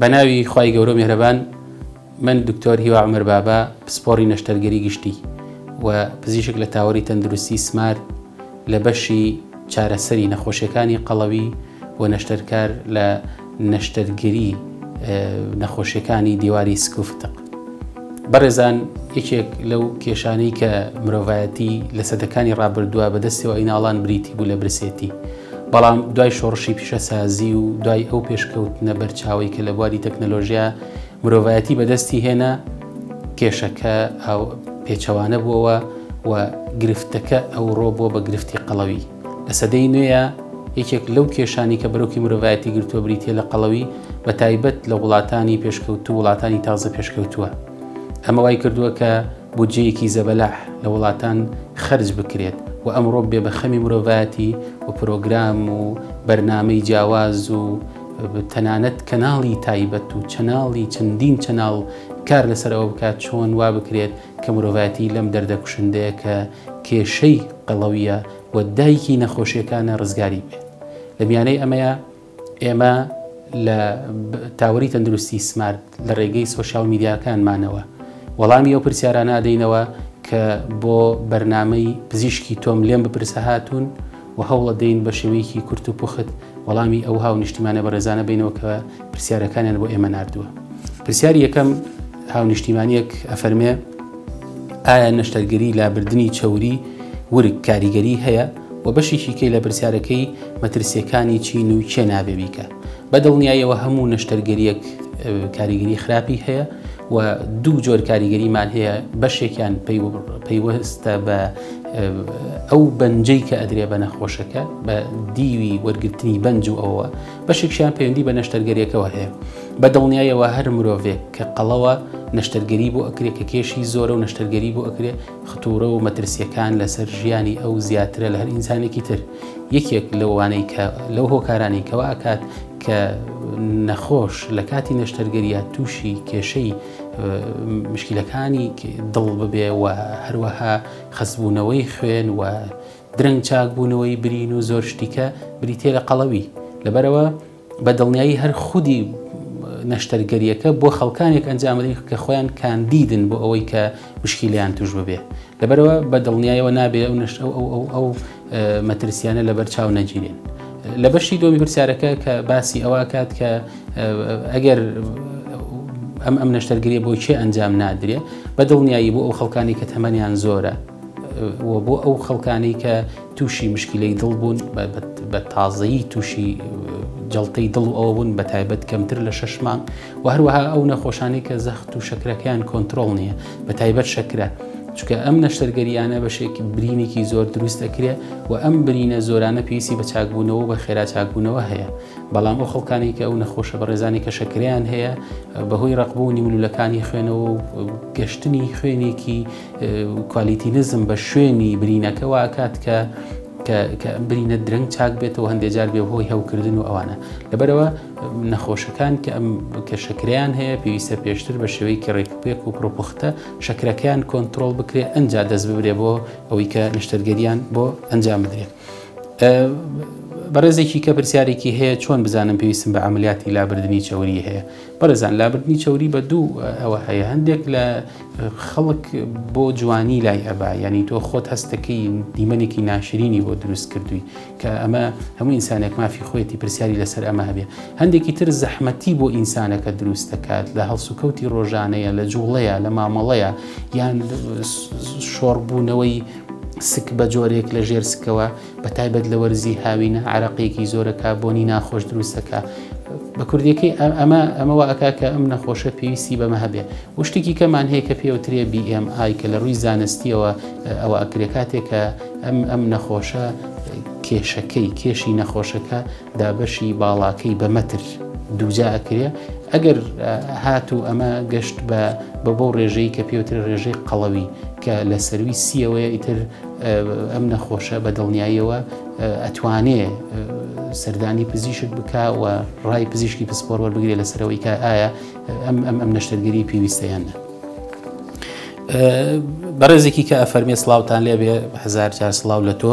بە ناوی خوای گەورە و میهرەبان من دکتۆر هیوا عومەر بابا پسپۆڕی نەشتەرگەری گشتی و پزیشک لە تاوەری تەندروستی سمارت لە بەشی چارەسەری نەخۆشیەکانی قەڵەوی و نەشتەرکار لە نەشتەرگەری نەخۆشیەکانی دیواری سکوفتق بەڕێزان یەکێک لەو کێشانەی کە مرۆڤایەتی لە سەدەکانی ڕابردووە بەدەستەوە ئەیناڵان بریتی بوو لە برسێتی بەڵام دوای شۆڕشی پیشەسازی و دوای ئەو پێشکەوتنە بەرچاوی کە لە بواری تەکنەلۆژیا مرۆڤایەتی بەدەستی هێنا کێشەکە پێچەوانە بووەوە و گرفتەکە ئەوڕۆ بۆ بە گرفتی قەڵەوی لە سەدەی نوێە یەکێک لەو کێشانی کە بەرۆکی مرۆڤایەتی گرتووە بریتە لە قەڵەوی بە تایبەت لە وڵاتانی پێشکەوتو وڵاتانی تازە پێشکەوتووە ئەمە وای کردووە کە بودجەیەکی زەبەلاح لە وڵاتان خەرج بکرێت و ئەمڕۆ بێ بە خەمی مرۆڤایەتی و پرۆگرام و بەرنامەی جیاواز و تەنانەت کەناڵی تایبەت و چەناڵی چەندین چەناڵ کار لەسەر ئەوە بکات چۆن وا بکرێت کە مرۆڤایەتی لەم دەردە کوشندەیە کە کێشەی قەڵەویە و دایکی نەخۆشیەکانە ڕزگاری بێت لە میانەی ئەمەیە ئێمە لە تاوەری تەندروستی سمارت لە ڕێگەی سۆشال میدیاکانمانەوە وەڵامی ئەو پرسیارانە ئەدەینەوە کە بۆ بەرنمەی پزیشکی تۆم لێم بپرسە هاتوون و هەوڵە دەین بە شێوەیەکی کورت و پوخت وەڵامی ئەو هاو نیشتیمانە بەڕێزانە بینەوە کە پرسیارەکانیان بۆ ئێمە نردووە پرسیاری یەکەم هاو نیشتیمانیەک ئەفەرمێ ئایا نەشتەرگەری لابردنی چوری ورگ کاریگەری هەیە وە بەشێکی کەی لە پرسیارەکەی مەترسیەکانی چین و کێ نابێ بیکە بە دڵنیایەوە هەموو نەشتەرگەریەک کاریگەری خراپی هەیە و دوو جۆر کاریگەریمان هەیە بەشێکیان پەیوەستە بە ئەو بەنجەی کە ئەدرێ بە نەخۆشەکە بە دیوی وەرگرتنی بەنج و ئەوە بەشێکشیان پەیوەندی بە نەشتەرگەریەکەەوە هەیە بە دڵنیایەوە هەر مرۆڤێک کە قەڵەوە نەشتەرگەری بۆ ئەکرێ کە کێشی زۆرە و نەشتەرگەری بۆ ئەکرێ ختوورە و مەترسیەکان لەسەر ژیانی ئەو زیاترە لە هەر ئینسانێکی تر یەکێک لەوانەی کە لەو هۆکارانی کەوا ئەکات کە نەخۆش لە کاتی نەشتەرگەریە تووشی کێشەی مشکلەکانی دڵ ببێ و هەروەها خەسبوونەوەی خوێن و درەنگ چاکبوونەوەی برین و زۆر شتیکە بریتێ لە قەڵەوی لەبەرەوە بە دڵنیایی هەر خودی نەشتەرگەریەکە بۆ خەڵکانێک ئەنجامدەین کە خۆیان کاندیدن بۆ ئەوەی کە مشکیلیان توش ببێ لەبەرەوە بە دڵنیایەوە نابێ ئەو نشت ئەو ئەو ئەو مەترسیانە لەبەر چاو نەگیرێن لە بەشی دۆمی پرسیارەکە کە باسی ئەوکات کە ئەگەر ئەم ئەم نەشتەرگری بۆ چێ ئەنجام نادرێ بە دڵنیایی بۆ ئەو خەڵکانی کە تەمەنیان زۆرە بۆ ئەو خەڵکانی کە تووشی مشکیلەی دڵ بوون بە تازەیی تووشی جڵتەی دڵ و ئەوە بوون بە تایبەت کەمتر لە شش مانگ و هەروەها ئەو نەخۆشانی کە زەخت و شەکرەکەیان کۆنتترۆل نییە بە تایبەت شەکرە چکە ئەم نەشتەرگەریانە بەشێکی برینێکی زۆر دروست دەکرێ و ئەم برینە زۆرانە پێویستی بە چاکبوونەوە بە خێرا چاکبوونەوە هەیە بەڵام ئەو خەڵکانی کە ئەو نەخۆشە بەڕێزانی کە شەکریان هەیە بەهۆی ڕقبوونی ملولەکانی خوێنەوە و گەشتنی خوێنێکی کوالیتی نزم بە شوێنی برینەکە واکات کە کە برینە درەنگ چاک بێتەوە هەندێک جار بێ هۆی هەوکردن و ئەوانە لەبەرەوە نەخۆشەکان کە ئەم کە شەکریان هەیە پێویستە پێشتر بە شێوەیەکی ڕێکپێک و پرۆپختە شەکرەکەیان کۆنتترۆل بکرێ ئەجا دەست ببرێ بۆ ئەوەی کە نیشتەرگەریان بۆ ئەنجام بدرێت. بەڕێزێکی کە پرسیارێکی هەیە چۆن بزانم پێویستم بە عملیاتی لابردنی چەوری هەیە بەڕێزان لابردنی چەوری بە دوو ئەوە هەیە هەندێک لە خەڵک بۆ جوانی لای ئەبا ینی تۆ خۆت هەستەکەی دیمەنێکی ناشرینی بۆ دروست کردووی کە ئەمە هەموو ئینسانێک مافی خۆێتی پرسیاری لەسەر ئەمە هەبێ هەندێکی تر زەحمەتی بۆ ئینسانەکە دروست دەکات لە هەڵسوکەوتی ڕۆژانەیە لە جوڵەیە لە مامەڵەیە یان شۆڕبوونەوەی سک بە جۆرێک لە ژێر سکەوە بە تایبەت لە وەرزی هاوینە عراقیەکی زۆرە کابۆنی ناخۆش دروستەکە بە کوردیەکەی ئەمە ئەمەوە ئەکا کە ئەم نەخۆشە پێویستی بەمە هەبێ وشتێکی کەمان هەیە کە پێوترێ BMI کە لە ڕووی زانستیەوە ئەوە ئەکرێ کاتێکە ئەم ئەم نەخۆشە کێشەکەی کێشی نەخۆشەکە دابەشی باڵاکەی بە مەتر دووجا ئەکرێ ئەگەر هاتوو ئەمە گەشت بە بە بەو ڕێژەی کە پێوتر ڕێژەی قەڵەوی کە لە سەروی سیەوەیە ئیتر ئەم نەخۆشە بە دڵنیاییەوە ئەتوانێ سەردانی پزیشک بکەوە ڕای پزیشکی پسپۆر وەربگرێ لەسەرەوەی کە ئایا ئەم ئەم ئەم نەشتەرگەری پێویستەیان نە بەڕێزێکی کە ئەفەرمێ سلااوان لێبێ هزار جار سلااو لە تۆ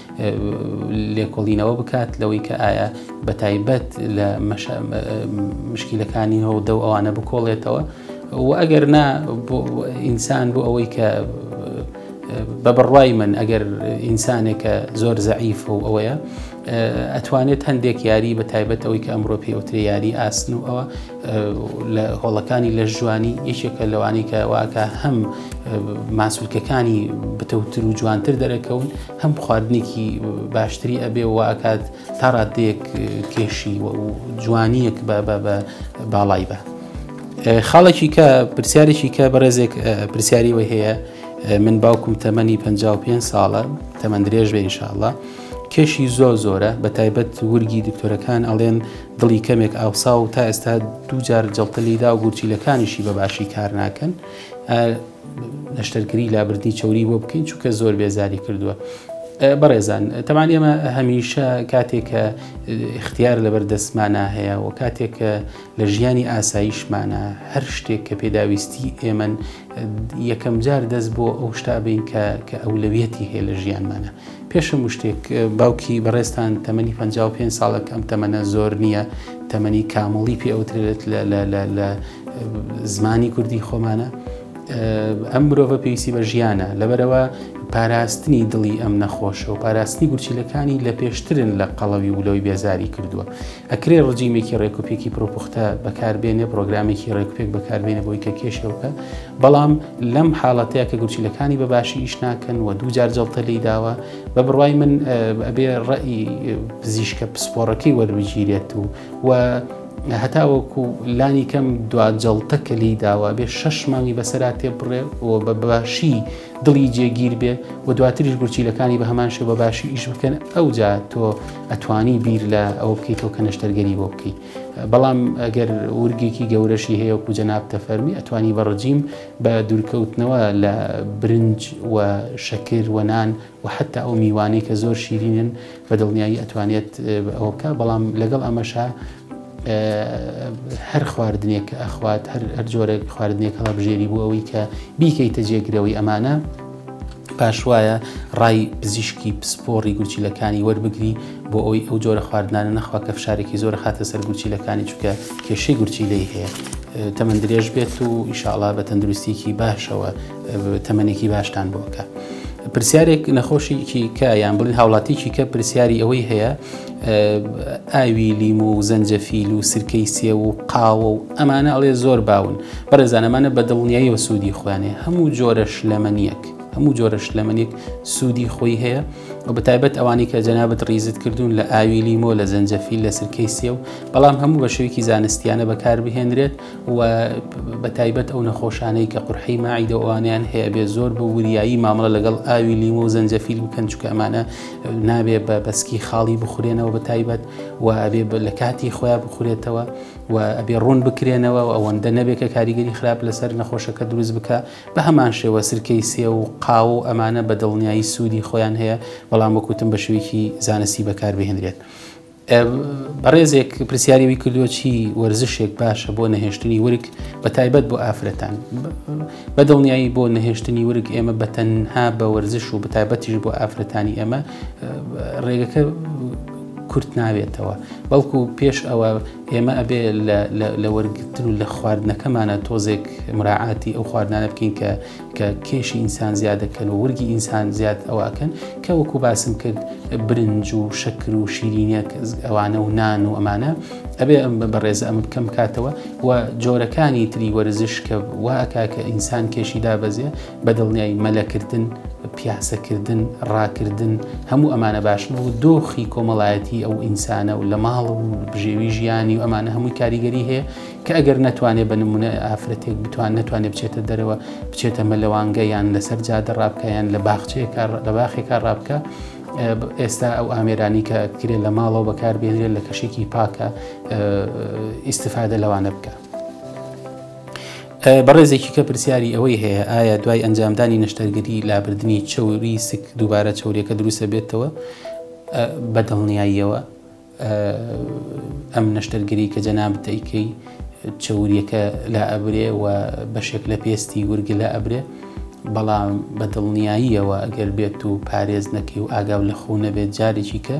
لێکۆڵینەوە بکات لەوەی کە ئایا بە تایبەت لە مشکیلەکانی هەودە و ئەوانە بکۆڵێتەوە و ئەگەر نا ئینسان بۆ ئەوەی کە بە بڕوای من ئەگەر ئینسانێکە زۆر زەعیف و ئەوەیە ئەتوانێت هەندێک یاری بە تایبەت ئەوەی کە ئەمڕۆ پێوتری یاری ئاسن و ئەوە لە هۆڵەکانی لەشجوانی یەکێکە لەوانەی کە واکە هەم ماسولکەکانی بتەوتر و جوانتر دەرەکەون هەم خواردنێکی باشتری ئەبێ و ئاکات تا ڕادێک کێشی و جوانیەک بە بە بە باڵای بە. خاڵێکی کە پرسیارێکی کە بەڕێزێک پرسیاری وە هەیە من باوکم تەمەنی 55 ساڵە تەمەندرێژ بە ئینشاءله کێشی زۆر زۆرە بە تایبەت ورگی دکتۆرەکان ئەڵێن دڵی کەمێک ئاوساوە و تا ئێستا دوو جار جەڵتە لێیدا و گورچیلەکانیشی بە باشی کار ناکەن نەشتەرگری لابردنی چوری بۆ بکەین چونکە زۆر بێزاری کردووە بەڕێزان تەمان ئێمە هەمیشە کاتێک کە اختیار لەبەر دەستمانە هەیە و کاتێک کە لە ژیانی ئاساییشمانە هەر شتێک کە پێداویستی ئێمن یەکەم جار دەست بۆ ئەو شتابین کە کە ئەولەویەتی هەیە لە ژیانمانە پێش هەموو شتێک باوکی بەڕێزتان تەمەنی 55 ساڵێک ئەم تەمەنە زۆر نییە تەمەنی کامڵی پێ ئەوترێت لە زمانی کوردی خۆمانە ئەم مرۆڤە پێویستی بە ژیانە لەبەرەوە پاراستنی دڵی ئەم نەخۆشە و پاراستنی گورچیلەکانی لە پێشترن لە قەڵەوی ولەوەی بێزاری کردووە ئەکرێ ڕجیمێکی ڕێکوپێکی پرۆپوختە بەکاربێنێ پرۆگرامێکی ڕێکوپێک بەکاربێنێ بۆی کە کێشێوکە بەڵام لەم حاڵەتەیە کە گورچیلەکانی بە باشی ئیش ناکەن و دوو جار جڵتە لی داوە بە بڕای من ئەبێ ڕئی پزیشکە پسپۆڕەکەی وەربگیرێت و و هەتاوەکو لانی کەم دو جڵتە کە لی داوە بێ شەش مانگی بەسرا تێ بڕێ و بە باشی دڵی جێگیر بێ و دواتریش گورچیلەکانی بە هەمان شێ بە باشی ئیش بکەن ئەو جا تۆ ئەتوانی بیر لە ئەوە بکەیتەوە کە نەشتەرگەری بۆ بکەیت بەڵام ئەگەر ورگێکی گەورەشی هەیە و کوجەناب تەفەرمی ئەتوانی بە ڕجیم بە دوورکەوتنەوە لە برنج و شەکر وەنان و حتا ئەو میوانەی کە زۆر شیرینن بە دڵنیایی ئەتوانێت ئەوە بکە بەڵام لەگەڵ ئەمەشا هەر خواردنێک ئەخوات هەر جۆرێک خواردنێک هەڵە بژێری بۆ ئەوەی کە بیکەیتە جێگرەوەی ئەمانە پاشوایە ڕای پزیشکی پسپۆڕی گورچیلەکانی وەربگری بۆ ئەوی ئەو جۆرە خواردنانە نەخوا کە فشارێکی زۆر خاتە سەر گورچیلەکانی چکە کێشەی گورچیلەی هەیە تەمەندرێژ بێت و ئیشاڵا بە تەندروستیکی باشەوە تەمەنێکی باشتان بۆ بکە. پرسیارێک نەخۆشیکی کە یان بڵین هاوڵاتیکی کە پرسیاری ئەوەی هەیە ئاوی لیم و زەنجەفیل و سرکەی سێ و قاوە و ئەمانە ئەڵێ زۆر باون بەڕێزانەمانە بە دڵنیایی و سوودی خوانێ هەموو جۆرە شلەمەنیەک هەموو جۆرە شلەمەنێک سوودی خۆی هەیە و بە تایبەت ئەوانی کە جەنابەت ڕیزت کردوون لە ئاوی لیمۆ لە زەنجەفیل لە سرکەی سێ و بەڵام هەموو بە شوێکی زانستیانە بەکاربهێنرێت وە بەتایبەت ئەو نەخۆشانەی کە قورحەی ماعیدە ئەوانیان هەیە بێ زۆر بە وریایی مامەڵە لەگەڵ ئاوی لیمۆ و زەنجەفیل بکەن چکە ئەمانە نابێ بە بەسکی خاڵی بخورێنەوە بەتایبەت و ئەبێ لە کاتی خۆیان بخورێتەوە و ئەبێ ڕوون بکرێنەوە و ئەوەندە نەبێت کە کاریگەری خراپ لەسەر نەخۆشەکە دروست بکە بە هەمان شێوە سرکەی سێ و قاو و ئەمانە بە دڵنیایی سوودی خۆیان هەیە بەڵام وەکوتم بە شوێکی زانستی بەکاربهێنرێت. بەڕێزێک پرسیاری وی کردووە چی وەرزشێک باشە بۆ نەهێشتنی ورگ بە تایبەت بۆ ئافرەتان بە دڵنیایی بۆ نەهێشتنی ورگ ئێمە بە تەنها بە وەرزش و بە تایبەتیش بۆ ئافرەتانی ئێمە ڕێگەکە کورت ناوێتەوە بەڵکو پێش ئەوە ئێمە ئەبێ لە وەرگتن و لە خواردنەکەمانە تۆزێک مراعاتی ئەو خواردانە بکەین کە کە کێشی ئینسان زیاد دەکەن و ورگی ئینسان زیاد ئەوە ئەکەن کە وەکو باسم کرد برنج و شەکر و شیرینەک ئەوانە و نان و ئەمانە ئەبێ ئەم بە بەڕێز ئەم بکەم کاتەوە و جۆرەکانی تری وەرزش کە واکە کە ئینسان کێشی دابەزێ بە دڵنیای مەلەکردن پیاسەکردن ڕاکردن هەموو ئەمانە باشن و دۆخی کۆمەڵایەتی ئەو ئینسانە و لە ماڵ و بژێوی ژیانی و ئەمانە هەمووی کاریگەری هەیە کە ئەگەر نەتوانێ بە نمونە ئافرەتێک بتوان نەتوانێ بچێتە دەرەوە بچێتە مەلەوانگە یان لەسەر جادە ڕابکەیان لە باخچەیەکە لە باخێکە ڕابکە ئێستا ئەو ئامێرانی کە کرێ لە ماڵەوە بەکاربێنرێت لە کەشێکی پاکە ئیسفادە لەوانە بکە. بەڕێزێکی کە پرسیاری ئەوەی هەیە ئایا دوای ئەنجامدانی نەشتەرگەری لابردنی چوری سک دووبارە چورێکە دروستە بێتەوە بەدڵنیاییەوە ئەم نەشتەرگەری کە جەنابت ئەیکەی چەوریەکە لا ئەبرێ و بەشێک لە پێستی ورگە لە ئەبرێ بەڵام بە دڵنیاییەوە ئەگەر بێت و پارێز نەکەی و ئاگاو لە خۆ نەبێت جارێکی کە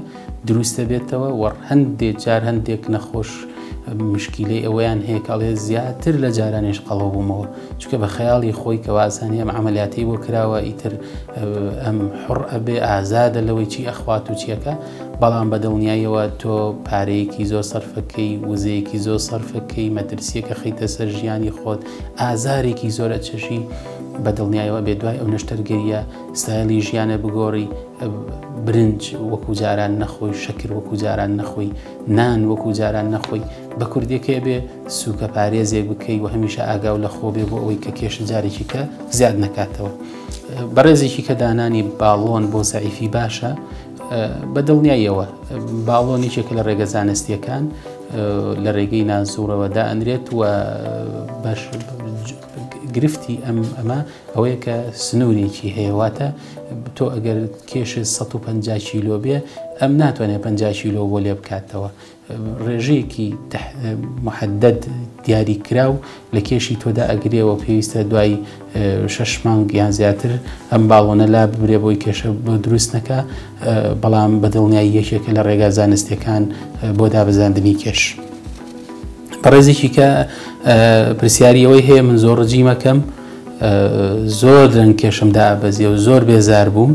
دروستە بێتەوە وە هەندێ جار هەندێک نەخۆش مشکیلەی ئەوەیان هەیەکڵێ زیاتر لە جارانێش قەڵەو بوومەوە چکە بە خەیاڵی خۆی کە وازانانی ئەم عملیاتی بۆ کراوە ئیتر ئەم حڕ ئەبێ ئازادە لەوەی چی ئەخوات و چیەکە بەڵام بە دڵنیایەوە تۆ پارەیەکی زۆر سەرفەکەی وزەیەکی زۆر سەرفەکەی مەترسیەکە خیتە سەر ژیانی خۆت ئازارێکی زۆرە چەشی بە دڵنیایەوە بێ دوای ئەو نەشتەرگەریە ستایلی ژیانە بگۆڕی برنج وەکو جاران نەخۆی شەکر وەکو جاران نەخۆی نان وەکو جاران نەخۆی بە کوردێکێ بێ سوکە پارێزێک بکەی و هەمیشە ئاگاو لە خۆ بێ بۆ ئەوەی کە کێش جارێکی کە زیاد نکاتەوە بەڕێزێکی کە دانانی باڵۆن بۆ زعیفی باشە بە دڵنیاییەوە باڵۆن یەکێکە لە ڕێگە زانستیەکان لە ڕێگەی نازوڕەوە دائەنرێت و بەش گرفتی ئەم ئەمە ئەوەیە کە سنوورێکی هەیەواتە تۆ ئەگەر کێش 150 کیلۆ بێ ئەم ناتوانێت 50 کیلۆ بۆ لێ بکاتەوە ڕێژەیەکی محدد دیاریکراو لە کێشی تۆدا ئەگرێەوە پێویستە دوای شش مانگ یان زیاتر ئەم باڵۆنە لا ببرێ بۆی کێشە بۆ دروست نەکە بەڵام بەدڵنیایی یەکێکە لە ڕێگا زانستەکان بۆ دابزاندنی کێش. بەڕێزێکی کە پرسیاری ئەوەی هەیە من زۆر ڕجیمەکەم زۆر درەنگ کێشم دابەزیە و زۆر بێزار بووم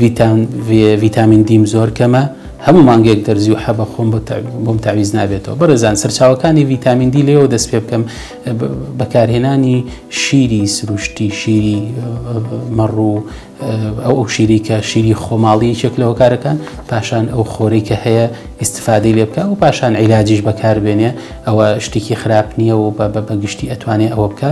ڤیتام ڤێ ڤیتامین دیم زۆر کەمە هەموو مانگێک دەرزی و حەبە خۆم بۆ تەع- بۆم تاویز نابێتەوە بەڕێزان سەرچاوەکانی ڤیتامین دی لێوە دەست پێ بکەم اه، ب- بەکارهێنانی شیری سروشتی شیری اه، مەڕ و اه، ئەو ئەو شیری کە شیری خۆماڵی یەکێک لە هۆکارەکان پاشان ئەو خۆرەی کە هەیە ئیستفادەی لێ بکە و پاشان عیلاجیش بەکار بێنێ ئەوە شتێکی خراپ نییە و بە بە بە گشتی ئەتوانێ ئەوە بکە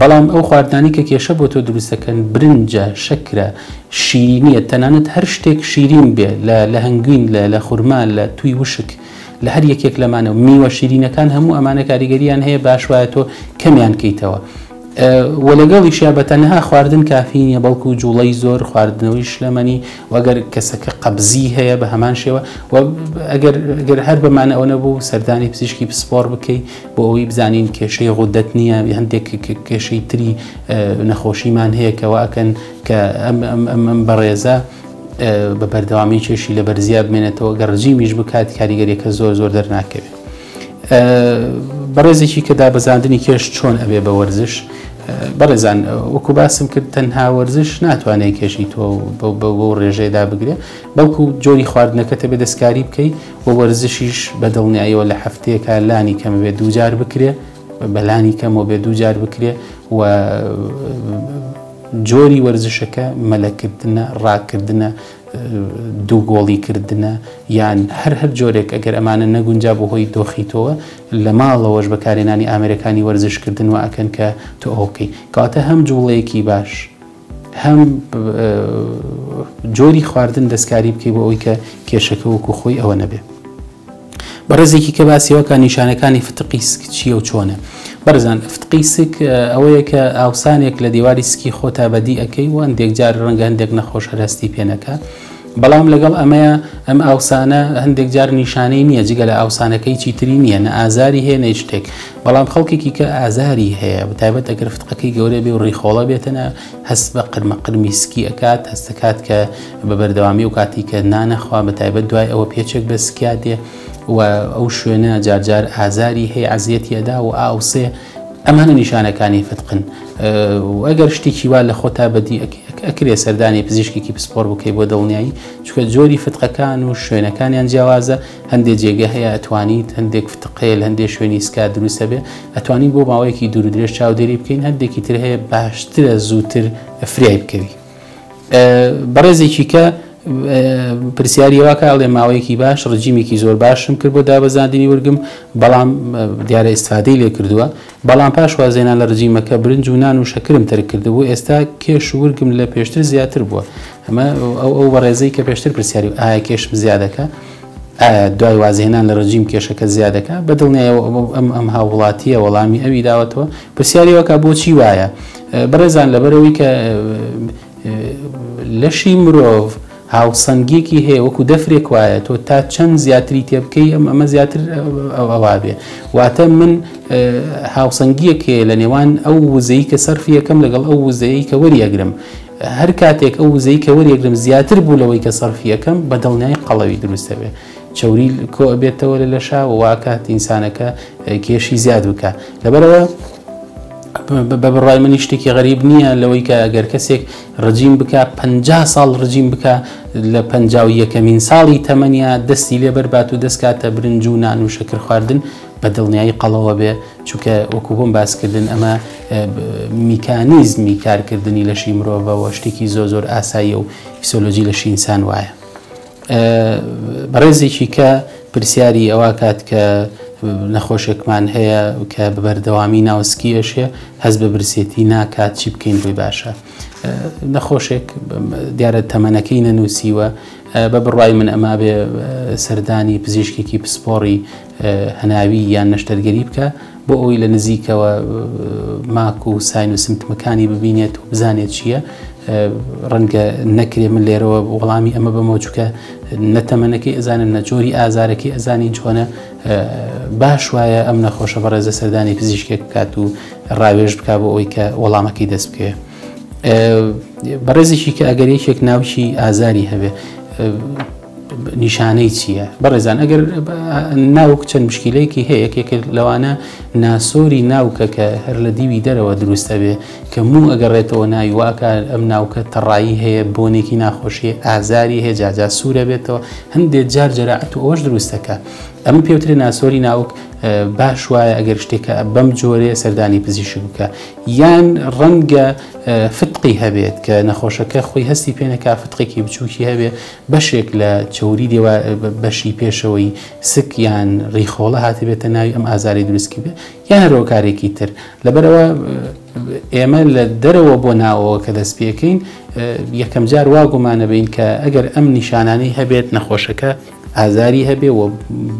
بەڵام ئەو خواردنانەی کە کێشە بۆ تۆ دروست دەکەن، برنجە، شەکرە، شیرینییە، تەنانەت هەر شتێک شیرین بێ، لە لە هەنگوین، لە لە خورما، لە تووی وشک، لە هەر یەکێک لەمانە و میوە شیرینەکان هەموو ئەمانە کاریگەرییان هەیە باش وایە تۆ کەمیان کەیتەوە و لەگەڵیشیا بە تەنها خواردن کافی نییە بەڵکو جوڵەی زۆر خواردنەوەی شلەمەنی وەگەر کەسەکە قەبزی هەیە بە هەمان شێوە و ئەگەر گەر هەر بەمانە ئەوە نەبوو سەردانی پزیشکی پسپۆڕ بکەی بۆ ئەوەی بزانین کێشەی غودەت نییە هەندێک کێشەی تری نەخۆشیمان هەیە کەوا ئەکەن کە ئەم بەڕێزە بە بەردەوامی کێشی لە بەرزیا بمێنێتەوە گەڕجی میش بکات کاریگەریەکە زۆر زۆر دەرناکەوێت بەڕێزێکی کە دابەزاندنی کێش چۆن ئەبێ بە وەرزش بەڕێزان وەکو باسم کرد تەنها وەرزش ناتوانێت کێشی تۆ بەو ڕێژەیەدا بگرێ بەڵکو جۆری خواردنەکەتە بێ دەستکاری بکەیت و وەرزشیش بە دڵنیایەوە لە هەفتەیەکا لانی کەم بێ دووجار بکرێ بەلانی کەمەوە بێ دووجار بکرێ و جۆری وەرزشەکە مەلەکردنە ڕاکردنە دوو گۆڵی کردنە یان هەر هەر جۆرێک ئەگەر ئەمانە نەگونجا بۆ هۆی دۆخیتەوە لە ماڵەوەش بەکارێنانی ئامرەکانی وەرزشکردن و ئەکەن کە تۆ ئەو بکەیت کاتە هەم جوڵەیەکی باش هەم جۆری خواردن دەستکاری بکەی بۆ ئەوی کە کێشەکە وەکو خۆی ئەوە نەبێ بەڕێزێکی کە باسیەوەکە نیشانەکانی فتقی سک چیە و چۆنە بەرزان فتقی سک ئەوەیە کە ئاوسانێک لە دیواری سکی خۆتا بەدی ئەەکەی و هەندێک جار ڕەنگە هەندێک نەخۆش هەرستی پێنەکە بەڵام لەگەڵ ئەمەیا ئەم ئاوسانە هەندێک جار نیشانەی نییە جگە لە ئاوسانەکەی چیتری نییە نە ئازاری هەیە نەی شتێک بەڵام خەڵکێکی کە ئازاری هەیە بەتایبەت ئەگەر فتقەکەی گەورە بێ و ڕیخۆڵە بێتەنە هەست بە قرمە قرمی سکی ئەکات هەستەکات کە بە بەردەوامی و کاتی کە نانەخوا بەتایبەت دوای ئەوە پێچێک بە سکیا دێ و ئەو شوێنە جارجار ئازاری هەیە عزیەتی ئەدا و ئاوسێ ئەمانە نیشانەکانی فتقن و ئەگەر شتێکی وا لە خۆتا بەدی ئەکرێ سەردانی پزیشکێکی پسپۆر بکەی بۆ دڵنیایی چکە جۆری فتقەکان و شوێنەکانیان جیاوازە هەندێک جێگە هەیە ئەتوانیت هەندێک فتقێل هەندێک شوێنی سکا دروستە بێ ئەتوانین بۆ ماوەیەکی دوور درێژ چاودێری بکەین هەندێکی تر هەیە باشترە زووتر فرای بکەوی بەڕێزێکی کە پرسیاری واکە ئەڵێ ماوەیەکی باش ڕجیمێکی زۆر باشم کرد بۆ دابەزاندنی ورگم بەڵام دیارە ئستفادەی لێ کردووە بەڵام پاش وازێنان لە ڕجیمەکە برنج و نان و شەکرم تەرک کردبوو ئێستا کێش ورگم لە پێشتر زیاتر بووە ئەمە ئەو ئەو بەڕێزەی کە پێشتر پرسیاری ئایا کێشم زیادەکە دوای وازهێنان لە ڕژیم کێشەکە زیادەکە بە دڵنیایەوە ئەم ئەم ئەم هاووڵاتیە وەڵامی ئەوی داوەتەوە پرسیارەوەکە بۆچی وایە بەڕێزان لەبەرەوەی کە لەشی مرۆڤ هاوسەنگێکی هەیە وەکو دەفرێک وایە تۆ تا چەند زیاتری تێبکەی ئەم ئەمە زیاتر ئەووا بێ واتە من هاوسەنگیەک هەیە لە نێوان ئەو وزەی کە سەرفیەکەم لەگەڵ ئەو وزەیە کە وەریەگرم هەر کاتێک ئەو وزەی کە وەریەگرم زیاتر بوو لەوەی کە سەرفی ئەکەم بە دڵنیایی قەڵەوی دروست ئەبێت چەوری کۆ ئەبێتەوە لە لەشا و واکات ئینسانەکە کێشی زیاد بکە لەبەرەوە بە بڕای منی شتێکی غەریب نییە لەوەی کە ئەگەر کەسێک ڕجیم بکە پ ساڵ ڕجیم بکە لە پ یەکەمین ساڵی تەمەنیا دەستی لێبەربات و دەستکاتە برنج و نان و شەکر خواردن بە دڵنیایی قەڵەوە بێ چونکە وەکو بۆم باسکردن ئەمە میکانیزمی کارکردنی لەشی مرۆڤەوە شتێکی زۆ زۆر ئاساییە و فیسۆلۆجی لە شینسان وایە بەڕێزێکی کە پرسیاری ئەوە کات کە نەخۆشێکمان هەیە کە بەردەوامی ناوسکیەشێ هەز بە برسێتی ناکات چی بکەین بۆی باشە نەخۆشێک دیارە تەمەنەکەی نەنووسیوە بە بڕای من ئەما بێ سەردانی پزیشکێکی پسپۆڕی هەناوی یان نەشتەرگەری بکە بۆ ئەوەی لە نزیکەوە ماک و ساین و سمتمەکانی ببینێت و بزانێت چییە ڕەنگە نەکرێ من لێرەوە وەڵامی ئەمە بەمە چووکە نەتەمەنەکەی ئەزانن نە جۆری ئازارەکەی ئەزانین چۆنە باش وایە ئەم نەخۆشە بەڕێزە سەردانی پزیشکێک بکات و ڕاوێژ بک بۆ ئەوی کە وەڵامەکەی دەست بکەوێت بەڕێزیشی کە ئەگەر یەکێک ناوچی ئازاری هەبێ نیشانەی چییە بەڕێزان ئەگەر ناوک چەند مشکیلەیەکی هەیە یەکێک لەوانە ناسۆری ناوکە کە هەر لە دیوی دەرەوە دروستە بێ کە موو ئەگەڕێتەوە ناوی واکە ئەم ناوکە تەڕایی هەیە بۆنێکی ناخۆشیە ئازاری هەیە جاجا سوورە بێتەوە هەندێک جار جەرەعەت و ئەوەش دروستەکە ئەم پێوترێ ناسۆری ناوک باش وایە ئەگەر شتێکە بەم جۆرێ سەردانی پزیشک بکە یان ڕەنگە فتقی هەبێت کە نەخۆشەکە خۆی هەستی پێنەکە فتقێکی بچووکی هەبێت بەشێک لە چەوری دێوا بەشی پێشەوەی سک یان ڕیخۆڵە هاتبێتە ناوی ئەم ئازاری دروستکی بێ یان هەرۆکارێکی تر لەبەرەوە ئێمە لە دەرەوە بۆ ناوەوە کە دەست پێکەین یەکەم جار وا گومانەبین کە ئەگەر ئەم نیشانانی هەبێت نەخۆشەکە ئازاری هەبێ و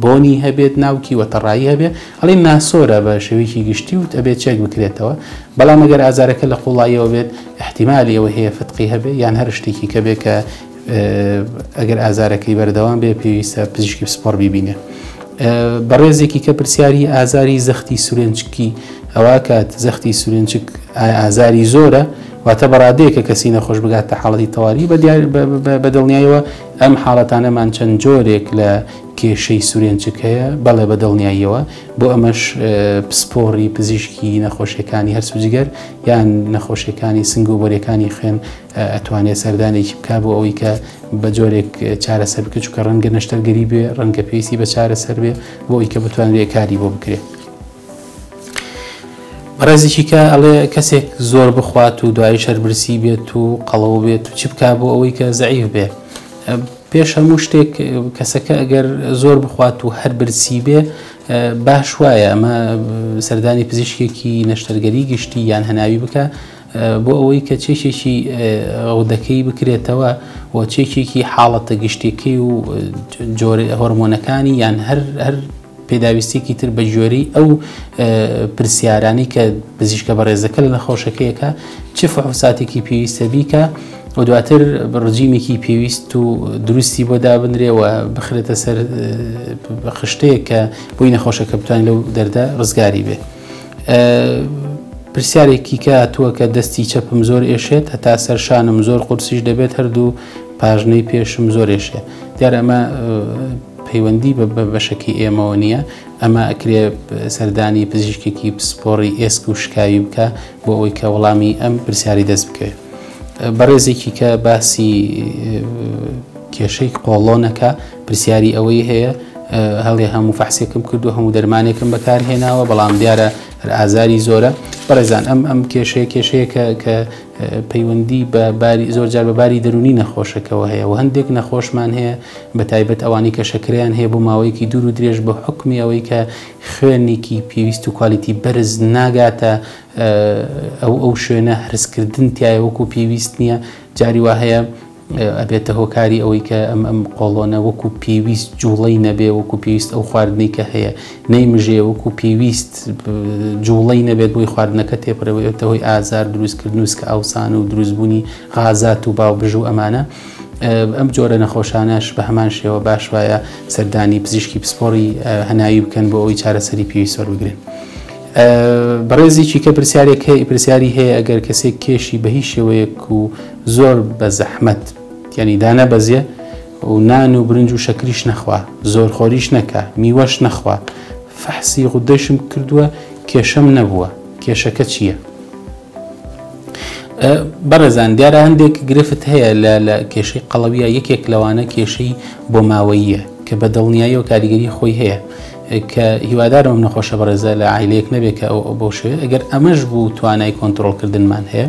بۆنی هەبێت ناوکی و تەڕایی هەبێ ئەڵێ ناسۆرە بە شێوەیەکی گشتی وت ئەبێت چێک بکرێتەوە بەڵام ئەگەر ئازارەکە لە قوڵایەوە بێت احتیممالی ئەوە هەیە فتقی هەبێ یان هەر شتێکی کە بێ کە ئەگەر ئازارەکەی بەردەوام بێ پێویستە پزیشکی پسپۆڕ بیبینێ بەڕێزێکی کە پرسیاری ئازاری زەختی سورێنچکی ئەوە کات زەختی سورێنچک ئازاری زۆرە واتە بەڕادەیەکە کەسی نەخۆش بگات تا حاڵی تەواوی بە دیار بە دڵنیایەوە ئەم حاڵەتانەمان چەند جۆرێک لە کێشەی سورێنچک هەیە بەڵێ بە دڵنیاییەوە بۆ ئەمەش پسپۆڕی پزیشکی نەخۆشیەکانی هەرسوجگەر یان نەخۆشیەکانی سنگ و بۆرەکانی خوێن ئەتوانێت سەردانێکی بکا بۆ ئەوەی کە بە جۆرێک چارەسەر بکە چکە ڕەنگە نەشتەرگەری بێ ڕەنگە پێویستی بە چارەسەر بێ بۆ ئەوی کە بتوانرێت کاری بۆ بکرێت. ڕێزیکیکە ئەڵێ کەسێک زۆر بخوات و دوایی شەربرسی بێت و قەڵەوە بێت و چ بکا بۆ ئەوەی کە زعیف بێ پێش هەموو شتێک کەسەکە ئەگەر زۆر بخوات و هەر برسی بێ باش وایە ئەمە سەردانی پزیشکێکی نەشتەرگەری گشتی یان هەناوی بکە بۆ ئەوەی کە چێکێکی غدەکەی بکرێتەوە و چێکێکی حاڵەتە گشتیەکەی و جۆرە هۆرمۆنەکانی یان هەر هەر پێداویستێکی تر بە گوێری ئەو پرسیارانی کە پزیشکە بەڕێزەکە لە نەخۆشەکەیەکە چ فحوساتێکی پێویستە بیکە و دواتر ڕژیمێکی پێویست و دروستی بۆ دابنرێەوە بخرێتە سەر خشتەیە کە بۆی نەخۆشەکە بتوان لەو دەردە ڕزگاری بێت. پرسیارێکی کە هاتووە کە دەستی چەپم زۆر ئێشێت هەتا سەرشانم زۆر قورسیش دەبێت هەردوو پاژنەی پێشم زۆر ئێشێ دیار ئەمە پەیوەندی بە بەشەکەی ئێمەوە نییە ئەمە ئەکرێ سەردانی پزیشکێکی پسپۆڕی ئێسک و شکاوی بکە بۆ ئەوی کە وەڵامی ئەم پرسیاری دەست بکەێت بەڕێزێکی کە باسی کێشەی قۆڵۆنەکە پرسیاری ئەوەی هەیە هەڵێ هەموو فەحسێکم کردو هەموو دەرمانێکم بەکارهێناوە بەڵام دیارە هەر ئازاری زۆرە بەڕێزان ئەم ئەم کێشەیە کێشەیەکە کە پەیوەندی بە باری زۆر جار بە باری دەرونی نەخۆشەکەەوە هەیە و هەندێک نەخۆشمان هەیە بە تایبەت ئەوانی کە شەکریان هەیە بۆ ماوەیەکی دوور و درێژ بە حکمی ئەوەی کە خوێنێکی پێویست و کوالیتی بەرز ناگاتە ئەو ئەو شوێنە هەرسکردن تایە وەکو پێویست نییە جاری وا هەیە ئەبێتە هۆکاری ئەوەی کە ئەم ئەم قۆڵۆنە وەکو پێویست جوڵەی نەبێ وەکو پێویست ئەو خواردنەی کە هەیە نەیمژێ وەکو پێویست جوڵەی نەبێت بۆی خواردنەکە تێپەرەوەێتە هۆی ئازار دروستکردن وسکە ئاوسان و دروستبوونی غازات و باو بژ و ئەمانە ئەم جۆرە نەخۆشانەش بە هەمان شێوە باش وایە سەردانی پزیشکی پسپۆری هەناوی بکەن بۆ ئەوی چارەسەری پێویست وەربگرن. بەڕێزێکی کە پرسیارێک هەیە پرسیاری هەیە ئەگەر کەسێک کێشی بە هیچ شێوەیەک و زۆر بە زەحمەت یعنی دانە بەزیێ و نان و برنج و شەکریش نەخوا زۆر خۆریش نەکە میوەش نەخوا فەحسی غودەشم کردووە کێشەم نەبووە کێشەکە چییە؟ بەڕێزان دیارە هەندێک گرفت هەیە لە لە کێشەی قەڵەویە یەکێک لەوانە کێشەی بۆ ماوەییە کە بە دڵنیاییەوە کاریگەری خۆی هەیە کە هیوادارم ئەم نەخۆشە بەڕێزە لە عیلەیەک نەبێت کە ئەو بەو شوێ ئەگەر ئەمەش بوو توانای کۆنتترۆلکردنمان هەیە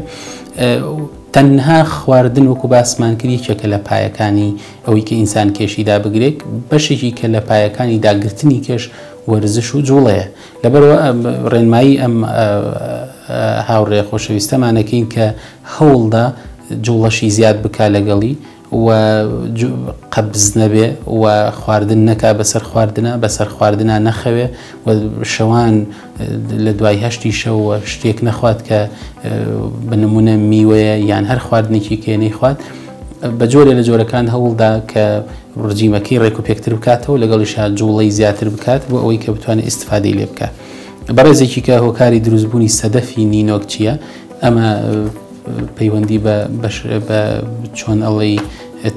تەنها خواردن وەکو باسمان کرد یەکێکە لە پایەکانی ئەوەی کە ئینسان کێشی دابگرێت بەشێکی کە لە پایەکانی داگرتنی کێش وەرزش و جوڵەیە لەبەرەوە ڕێنمایی ئەم هاوڕێ خۆشەویستەمانەکەین کە هەوڵدا جوڵەشی زیاد بک لەگەڵی و قەبز نەبێ و خواردن نەکا بەسەر خواردنا بەسەر خواردنا نەخەوێ و شەوان لە دوای هەشتی شەوە شتێک نەخوات کە بنمونە میوەیە یان هەر خواردنێکی کێنەی خوات بە جۆرێ لە جۆرەکان هەوڵدا کە ڕجیمەکەی ڕێک و پێکتر بکاتەوە لەگەڵیشا جوڵەی زیاتر بکات بۆ ئەوەی کە بتوانێت ئیسفادەی لێ بکات بەڕێزێکی کە هۆکاری دروستبوونی سەدەفی نینۆک چییە ئەمە پەیوەندی بە بەش بە چۆن ئەڵی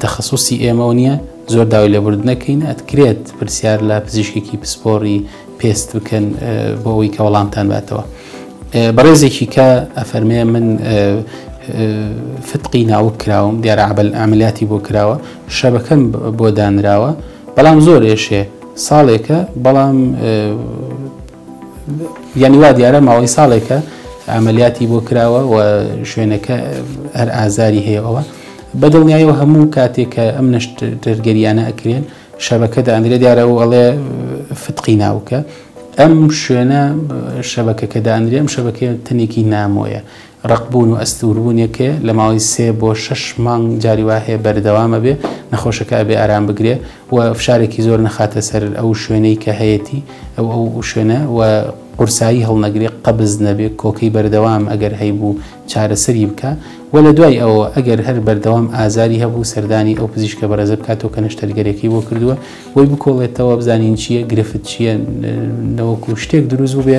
تەخصصی ئێمەەوە نییە زۆر داوای لێبرد نەکەین ئەتکرێت پرسیار لە پزیشکێکی پسپۆری پێست بکەن بۆ ئەوی کە وەڵامتان باتەوە بەڕێزێکی کە ئەفەرمێ من فتقی ناوک کراوم دیارە عبل ئەعملیاتی بۆ کراوە شەبەکەم بۆ دانراوە بەڵام زۆر ئێشێ ساڵێکە بەڵام یانی وا دیارە ماوەی ساڵێکە ئەعملیاتی بۆ کراوە و شوێنەکە هەر ئازاری هەیە ئەوە بەدڵنیایەوە هەموو کاتێک کە ئەم نەشتەرگەریانە ئەکرێن شەبەکە دەئەندرێ دیارە و ئەڵێ فتقی ناوکە ئەم شوێنە شەبەکەکە دەئەندرێ ئەم شەبەکە تەنێکی نامۆیە رەق بوون و ئەستوور بوون یەک هەیە لە ماوەی سێ بۆ شەش مانگ جاری وا هەیە بەردەوام ئەبێ نەخۆشەکە ئەبێ ئارام بگرێ و فشارێکی زۆر نەخاتە سەر ئەو شوێنەی کە هەیەتی ئەو ئەو شوێنە و قورسایی هەڵنەگرێ قەبز نەبێ کۆکەی بەردەوام ئەگەر هەیبوو چارەسەری بکە و لە دوای ئەوە ئەگەر هەر بەردەوام ئازاری هەبوو سەردانی ئەو پزیشکە بەرەزە بکاتەوە کە نەشتەرگەرەکەی بۆ کردووە بۆی بکۆڵێتەوە بزانین چییە گرفت چییە نەوەکو شتێک دروست بوو بێ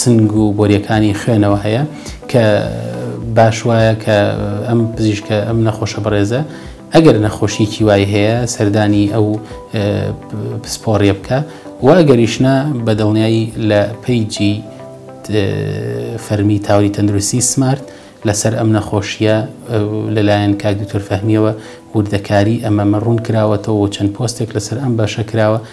سنگ و بۆریەکانی خوێنەوە هەیە کە باش وایە کە ئەم پزیشکە ئەم نەخۆشە بەڕێزە ئەگەر نەخۆشیکی وای هەیە سەردانی ئەو پسپۆڕیە بکە و ئەگەریشنا بە دڵنیایی لە پیجی فەرمی تاوری تەندروستی سمارت لەسەر ئەم نەخۆشیە لەلایەن کاک دکتۆر فەهمیەوە وردەکاری ئەمەمە ڕوون کراوەتەوە چەند پۆستێک لەسەر ئەم باشە کراوە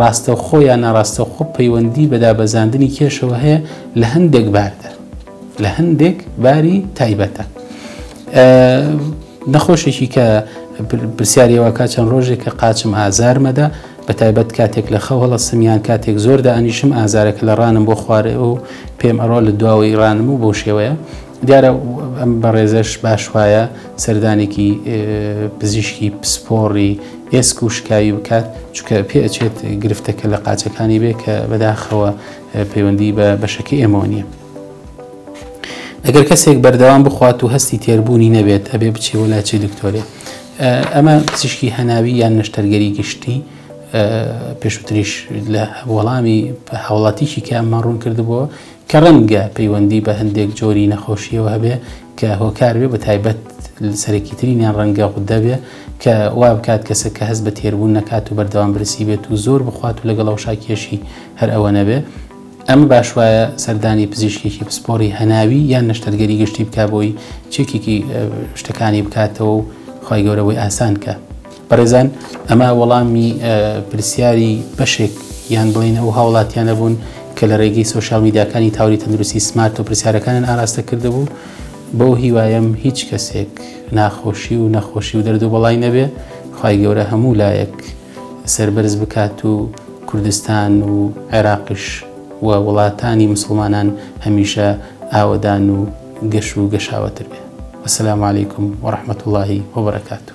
ڕاستەوخۆ یا ناڕاستەوخۆ پەیوەندی بە دابەزاندنی کێشەوە هەیە لە هەندێک باردەر لە هەندێک باری تایبەتە نەخۆشێکی کە پرسیارەوەکە چەند ڕۆژێک کە قاچم ئازارمەدا بە تایبەت کاتێک لە خەو هەڵەسمیان کاتێک زۆردا ئەنیشم ئازارەکە لە ڕانم بۆ خوارێ و پێم ئەڕۆ لە دواوەی ڕانم و بۆ شێوەیە دیارە ئەم بەڕێزەش باش وایە سەردانێکی پزیشکی پسپۆڕی ئێسک و شکاوی بکات چکە پێ ئەچێت گرفتەکە لە قاچەکانی بێ کە بەداخەوە پەیوەندی بە بەشەکە ئێمەوە نییە. ئەگەر کەسێک بەردەوام بخوات و هەستی تێربوونی نەبێت ئەبێ بچێ وە لاچی دکتۆرێ ئەمە پزیشکی هەناوی یان نەشتەرگەری گشتی پێشوتریش لە وەڵامی هاوڵاتیشی کە ئەمە ڕوون کردبووە کە ڕەنگە پەیوەندی بە هەندێک جۆری نەخۆشییەوە هەبێ کە هۆکار بێ بە تایبەت سەرەکی ترینیان ڕەنگە غودە بێ کە وا بکات کەسە کە هەست بە تێربوون نەکات و بەردەوام برسی بێت و زۆر بخوات و لەگەڵ ئەوشاکیەشی هەر ئەوە نەبێ ئەمە باش وایە سەردانی پزیشکێکی پسپۆری هەناوی یان نەشتەرگەری گشتی بک بۆی چێکێکی شتەکانی بکاتەوە و خی گەورەوەی ئاسان کە بەڕێزان ئەمە وەڵامی پرسیاری بەشێک یان بڵین ئەو هاوڵاتیانە بوون کە لە ڕێگەی سوۆشال میداکانی تاوری تەندروستی سمارت و پرسیارەکانیان ئاراستە کردبوو بۆ هیوایم هیچ کەسێک ناخۆشی و نەخۆشی و دەردو بەڵای نەبێ خی گەورە هەموو لایەک سربەرز بکات و کوردستان و عێراقش و وڵاتانی مسلمانان هەمیشە ئاوەدان و گەش و گەشاوەتر بێ وسلام عیکم وڕحمەت اللهی وبرکات و